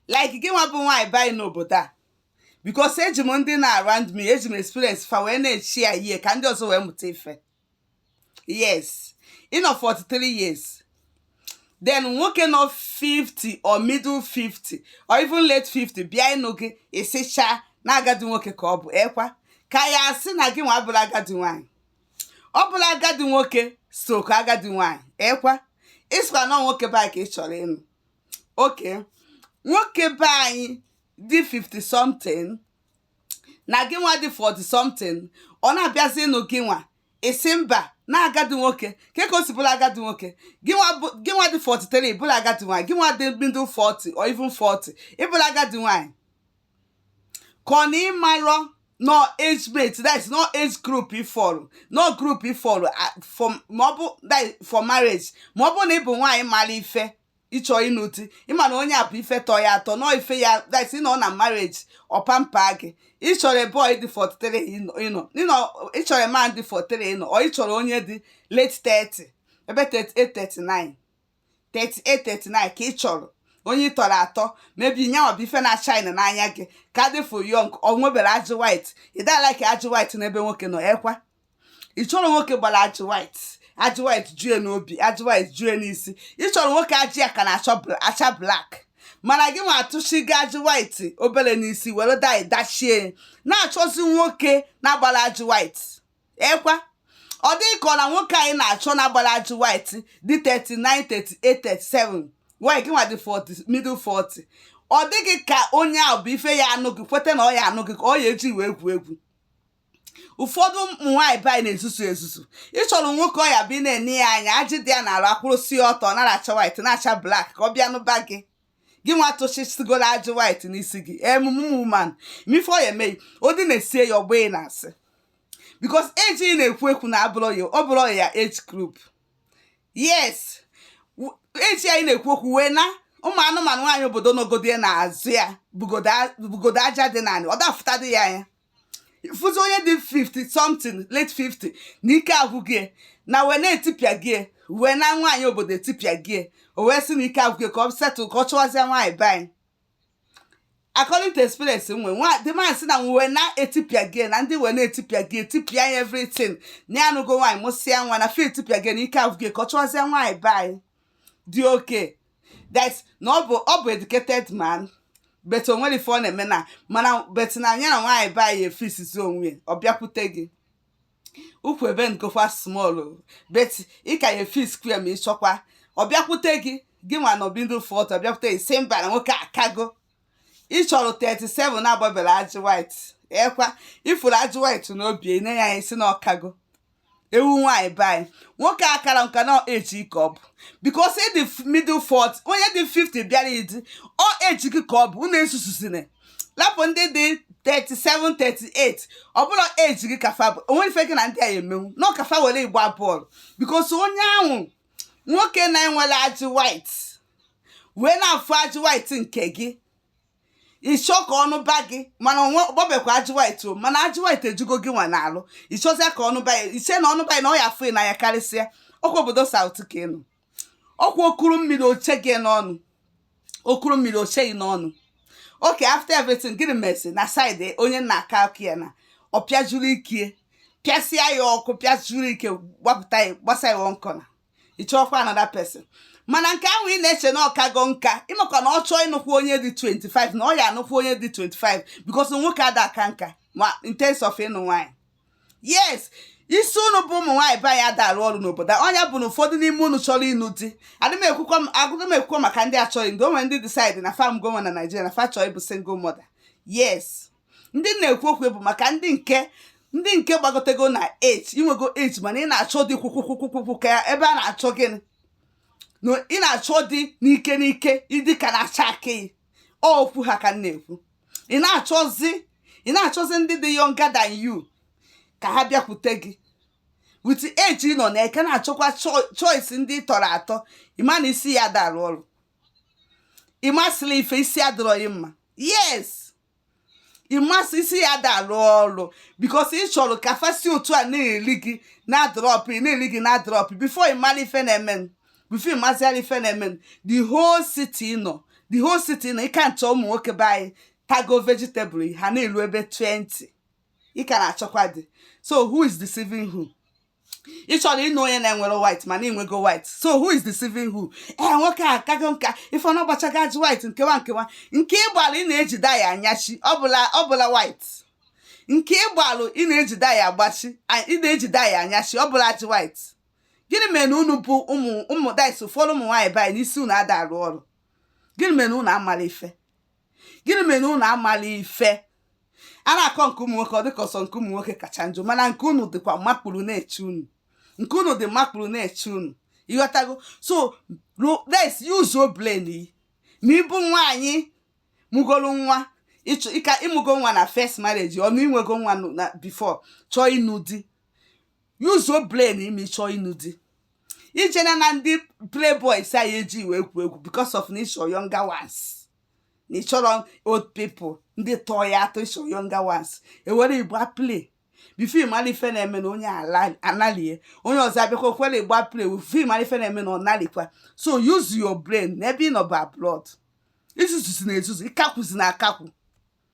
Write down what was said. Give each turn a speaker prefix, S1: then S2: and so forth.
S1: like gị nwa bụ nwaanyị be anyị n'obodo a because eji m ndị na-around me eji m experience fa wee na-echi ya ihe ka ndị ọzọ wee mụta ife yes ị nọ 43 years then nwoke nọ 50 or middle 50 or even late 50 bịa ịnụ gị ị sị cha na agadi nwoke ka ọ bụ ekwa ka ya asị na gị nwa abụrọ agadi nwaanyị ọ bụrụ agadi nwoke stroke agadi nwaanyị ekwa ị sịkwa na ọ nwoke boy ka ị chọrọ ịnụ okay nwoke be anyị dị 50 something na gị nwa dị 40 something ọ na-abịazi ịnụ gị nwa ị sị mba na agadi nwoke kee ka o si bụrụ agadi nwoke gị nwa dị 43 bụrụ agadi nwaanyị gị nwa dị middle 40 or even 40 ị bụrụ agadi nwaanyị ka ọ na ị marọ na ọ age mate that is na ọ age group ị fọrọ na ọ group ị fọrọ for maọbụ that for marriage maọbụ na ị bụ nwaanyị mara ife ị chọrọ ịnụ di ị ma na onye a bụ ife tọ ya atọ na ọ ife ya that ị nọ na marriage ọ pamper gị ị chọrọ boy dị 43 no no no ị chọrọ man dị 43 no o ị chọrọ onye dị late 30 ebe 38 39 38 39 ka ị chọrọ onye ị tọrọ atọ maybe nya nwa bụ ife na-acha n'anya gị ka dị for young o nweberọ ajị white ị da-alike ajị white n'ebe nwoke nọ ekwa ị chọrọ nwoke gbara ajị white ajị white jue n'obi ajị white jue n'isi ị chọrọ nwoke ajị ya ka na-acha bl- acha black mana gị nwa atụchigo ajị white obere n'isi were dye dachie na-achọzi nwoke na-agbarọ ajị white ekwa ọ dị gị ka ọ na nwoke a ị na-achọ na-agbarọ ajị white dị 39 38 37 while gị nwa dị 40 middle 40 ọ dị gị ka onye ahụ bụ ife ya anụ gị kweta na ọ ya anụ gị ka ọ ya eji wee egwu egwu ụfọdụ ụmụ nwaanyị be anyị na-ezuzu ezuzu ị chọrọ nwoke ọ ya-abụ ị na-ene ya anya ajị dị ya n'arụ akwụrụsi ya ọtọ nara acha white na-acha black ka ọ bịa nụba gị gị nwa tụchisigola ajị white n'isi gị emume woman ma ife ọ ya-eme gị ụdị na-esie ya ọgbọ ị na-asị because eji ị na-ekwu ekwu na abụrọ ya ọ bụrọ ya age group yes w- eji anyị na-ekwu okwu wee na ụmụ anụmanụ nwaanyị obodo nọgode n'azụ ya bugodo a- bugodo aja dị n'ala ọ dafụtadị ya anya fụzi onye dị 50 something late 50 na ike agwụgo ya na wee na-etipịa gị wee na nwaanyị obodo etipịago ya o wee sị na ike agwụgo ya ka ọ settle ka ọ chụwazie nwaanyị be anyị according to experience nwe nwa the man sị na wee na-etipịa gị na ndị wee na-etipịa gị etipịa ya everything na ya anụgo nwaanyị mụsịa nwa na fe etipịago ya na ike agwụgo ya ka ọ chụwazie nwaanyị be anyị dị okay that na ọ bụ ọ bụ educated man but o nwere ife ọ na-eme na mana but na anya na nwaanyị be anyị efixizie onwe ya, ọ bịakwute gị ụkwụ ebengokwa small o, but ị ka ya-efixkwu ya ma ị chọkwa ọ bịakwute gị gị nwa nọ ebe ndị 40 bịakwute gị sị mba na nwoke akago ị chọrọ 37 na-agbaberọ ajị white ọ kwa ị fụrụ ajị white n'obi ị na-enye ya isi na ọ kago ewu nwaanyị be anyị nwoke akarọ nka na age gị ka ọ bụ because ị dị middle 40 onye dị 50 bịara gị di ọ age gị ka ọ bụ nne ezuzuzina lapụ ndị dị 37 38 ọ bụrọ age gị ka fa bụ o nwerọ ife gị na ndị a emenwu na ọ ka fa were gị gba bọọlụ because onye ahụ nwoke na-enwerọ ajị white wee na-afụ ajị white nke gị ị chọ ka ọ nụba gị mana o nwe ọ gbabekwa ajị white o mana ajị white ejugo gị nwa n'alụ ị chọzịa ka ọ nụba ya i che na ọ nụba ya na ọ ya afụ n'anya karịsịa ọ kwa obodo south ka ị nọ ọ kwa o kuru mmiri o che gị n'ọnụ o kuru mmiri o che gị n'ọnụ okay after everything gịnị mesi na side onye nna aka aka ya na ọ pịajuru ike pịasịa ya ọkụ pịajuru ike gbapụta ya gbasa ya one corner ị chọọkwa another person mana nke ahụ ị na-eche na ọ kago nka ị makwa na ọ chọọ ịnụkwu onye dị 25 na ọ ya anụkwu onye dị 25 because nwoke ada aka nka ma in terms of ịnụ nwaanyị yes isi unu bụ ụmụ nwaanyị be anyị ada arụ ọrụ n'obodo a. ọ nya bụ na ụfọdụ n'ime unu chọrọ ịnụ di adị m ekwukwa m- adị m ekwukwa maka ndị achọghị ndị o nwere ndị decide na fam goma na Naịjirịa na fa chọọ ịbụ single mother yes ndị na-ekwu okwu bụ maka ndị nke ndị nke gbagotego na age i nwego age mana ị na-achọ di kwukwukwukwukwu ka ebe a na-achụ gị na ị na-achọ di n'ike n'ike ị dị ka na-acha akị okwu ha ka m na-ekwu ị na-achọzi ị na-achọzi ndị dị younger than you ka ha bịakwute gị with age ị nọ na ị ka na-achọkwa choice ndị tọrọ atọ ị ma na isi ya ada arụ ọrụ ị masịlọ ife isi adịrọ gị mma yes ị masị isi ya ada alụ ọrụ because ị chọrọ ka fa si otu a na-eri gị na-adrop ị na-eri gị na-adrop before ị mara ife na-eme before ị mazịara ife na-eme the whole city nọ the whole city nọ ị ka na-achọ ụmụ nwoke be anyị tago vegetable ha na-elu ebe 20 ị ka na-achọkwa di so who is deceiving who ị chọrọ ịnụ onye na-enwerọ white mana i nwego white so who is deceiving who ee eh, nwoke akago nka ị fụ na ọ gbachago ajị white nkewa nkewa nke ị gbalụ ị na-eji dye anyachi ọ bụrọ ọ bụrọ white nke ị gbalụ ị na-eji dye agbachi ị na-eji dye anyachi ọ bụrọ ajị white gịnị mere na unu bụ ụmụ ụmụ ụfọdụ ụmụ nwaanyị be anyị na isi unu ada arụ ọrụ gịnị mere na unu amarọ ife gịnị mere na unu amala ife a na-akọ nke ụmụ nwoke ọ dịka ọ sọ nke ụmụ nwoke kacha njọ mana nke unu dịkwa makpuru na-eche unu nke unu dị makpuru na-eche unu ị ghọtago so let's use your brain ma ị bụ nwaanyị mụgoro nwa ịchọ ịka ị mụgo nwa na first marriage ọnụ i nwego nwa na before chọọ ịnụ di use your brain imi chọọ ịnụ di ije na na ndị playboys anyị eji wee kwu egwu because of na ịchọ younger ones na ịchọrọ old people ndị tọọ ya atọ ịchọ younger ones e were ị gbaa play before ị mara ife na-eme na onye analie onye ọzọ abịakwa were ị gbaa play before ị mara ife na-eme na ọ nalikwa so use your brain n'ebe ị nọ bụ abroad izuzuzi na-ezuzu ịkakwuzi na-akakwu